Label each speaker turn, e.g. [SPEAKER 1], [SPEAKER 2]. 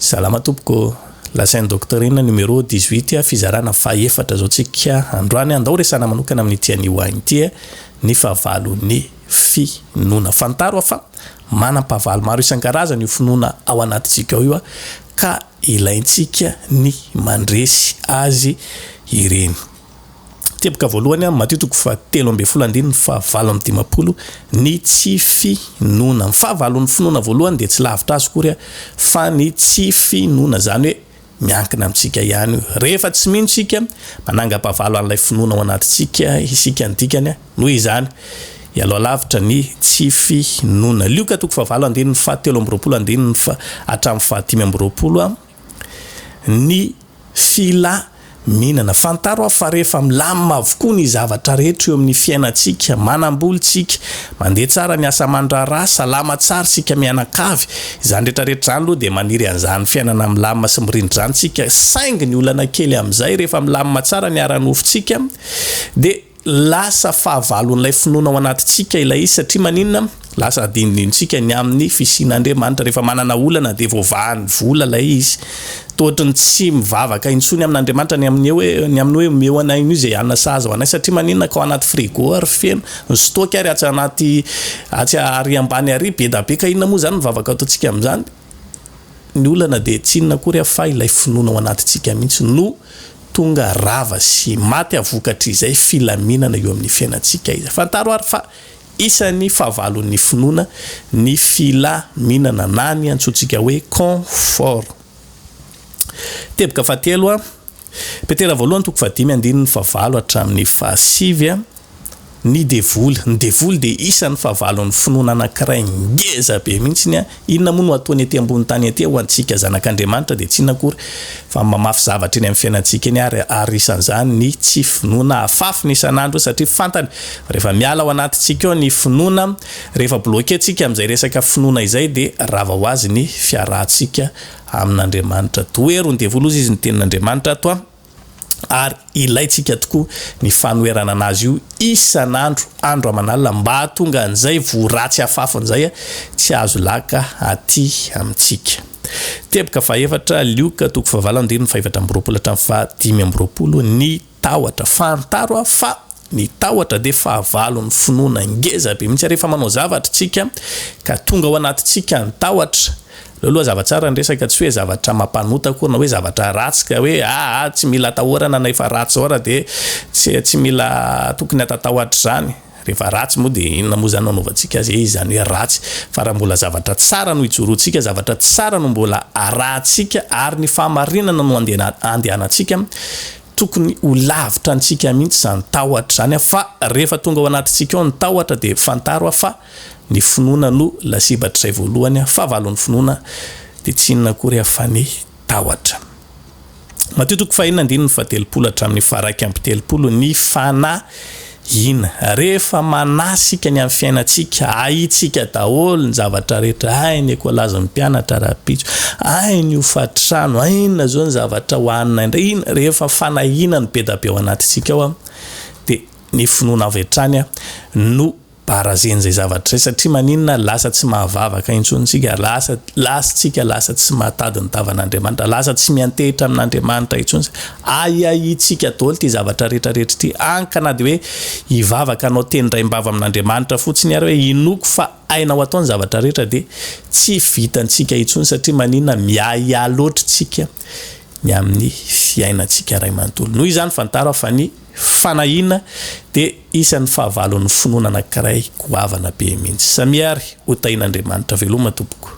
[SPEAKER 1] Salama tompoko, lazain'i Docteur inona numéro dix huit a fizarana faha efatra zao tsika androany a, ndao resahana manokana amin'ity anio ahy ity e, ny fahavalon'ny finoana. Fantaro aho fa manam-pahavalo maro isan-karazany io finoana ao anatintsika ao io a, ka ilaintsika ny mandresy azy ireny. Teboka voalohany amin'ny Matio toko fahatelo ambin'ny folo andininy fahavalo amby dimampolo ny tsy finoana. Ny fahavalon'ny finoana voalohany dia tsy lavitra azy akory fa ny tsy finoana, izany hoe miankina amintsika ihany io. Rehefa tsy mino isika, manangam-pahavalo an'ilay finoana ao anatintsika isika. Ny dikany, noho izany, hialoha lavitra ny tsy finoana. Lioka toko fahavalo andininy fahatelo amby roapolo andininy faha hatramin'ny fahadimy amby roapolo. ny fila minana. Fantaro aho fa rehefa milamina avokoa ny zavatra rehetra eo amin'ny fiainantsika, manam-bola isika, mandeha tsara ny asa aman-draharaha, salama tsara isika mianakavy, izany rehetra rehetra izany aloha dia maniry an'izany fiainana milamina sy mirindra izany isika, saingy ny olana kely amin'izay rehefa milamina tsara ny ara-nofontsika dia Lasa fahavalon'ilay finoana ao anatintsika ilay izy, satria maninona? Lasa adinodinontsika ny amin'ny fisian'Andriamanitra. Rehefa manana olana dia voavahan'ny vola ilay izy. Toa ohatry ny tsy mivavaka intsony amin'Andriamanitra ny amin'ny hoe, ny amin'ny hoe omeo anay an'io izay hanina sahaza ho anay, satria maninona? Ka ao anaty frigo ary feno, ny stock ary atsy anaty, atsy ary ambany ary be da be, ka inona moa izany ny vavaka ataontsika amin'izany? Ny olana dia tsy inona akory fa ilay finoana ao anatintsika mihitsy no tonga rava sy maty a vokatr'izay filaminana eo amin'ny fiainantsika izay. Fantaro ary fa isan'ny fahavalon'ny finoana ny filaminana na ny antsointsika hoe confort. Teboka fahatelo a. Petera voalohany toko fahadimy andininy fahavalo hatramin'ny fahasivy a Ny devoly, ny devoly dia isan'ny fahavalon'ny finoana anankiray ngeza be mihitsiny a Inona moa no ataony ety ambony tany ety a Ho antsika zanak'Andriamanitra dia tsy inona akory fa mamafy zavatra eny amin'ny fiainantsika eny ary ary isan'izany ny tsy finoana Afafiny isan'andro satria fantany fa rehefa miala ao anatintsika ao ny finoana rehefa bloquer tsika amin'izay resaka finoana izay dia rava ho azy ny fiarahantsika amin'Andriamanitra. Toheron devol'oza izy ny tenin'Andriamanitra ato an, ary ilaintsika tokoa ny fanoherana anazy io isan'andro andro aman'alina mba hahatonga an'izay voaratsy afafiny izay a tsy azo laka aty amintsika. Teboka fahaefatra, Lioka toko fahavalo andininy fahefatra amby roapolo hatramin'ny fahadimy amby roapolo, ny. Tahotra. Fantaro aho fa ny tahotra dia fahavalon'ny finoana ngeza be mihitsy. Rehefa manao zavatra isika ka tonga ao anatintsika ny tahotra, aleo aloha hazava tsara ny resaka, tsy hoe zavatra mampanota akory na hoe zavatra ratsy ka hoe aa tsy mila atahorana na efa ratsy zao ary dia tsy mila tokony hatatahotra izany. Rehefa ratsy moa dia inona moa izany no hanaovantsika azy e? Izany hoe ratsy. Fa raha mbola zavatra tsara no ijoroantsika, zavatra tsara no mbola arahantsika ary ny fahamarinana no andehanantsika, tokony ho lavitra antsika mihitsy izany tahotra izany fa rehefa tonga ao anatintsika ao ny tahotra dia fantaro fa ny finoana no lasibatr'izay voalohany, fahavalon'ny finoana dia tsy inona akory afa ny. tahotra. Matio toko fahenina andininy fahatelopolo hatramin'ny faharaika amby telopolo ny fanahiana. Rehefa manahy isika ny amin'ny fiainantsika, ahintsika daholo ny zavatra rehetra, hay ny ekolazin'ny mpianatra rahampitso, hay ny hofantrano, hay inona izao ny zavatra hohanina indray, inona, rehefa fanahiana no be dia be ao anatintsika ao dia ny finoana avy hatrany no Barazeny izay zavatra izay satria maninona lasa tsy mahavavaka intsony isika, lasa lasa isika lasa tsy mahatady ny tavan'Andriamanitra, lasa tsy miantehitra amin'Andriamanitra intsony isika, ahiahintsika daholo ity zavatra rehetra rehetra ity, any ka na dia hoe hivavaka hanao teny raim-bava amin'Andriamanitra fotsiny ary hoe hinoako fa hainao atao ny zavatra rehetra dia tsy vitantsika intsony satria maninona miahiahy loatra isika ny amin'ny fiainantsika iray manontolo. Noho izany fantaro aho fa ny. Fanahiana dia isan'ny fahavalon'ny finoana anankiray goavana be mihitsy. Samia ary ho tahian'Andriamanitra veloma tompoko.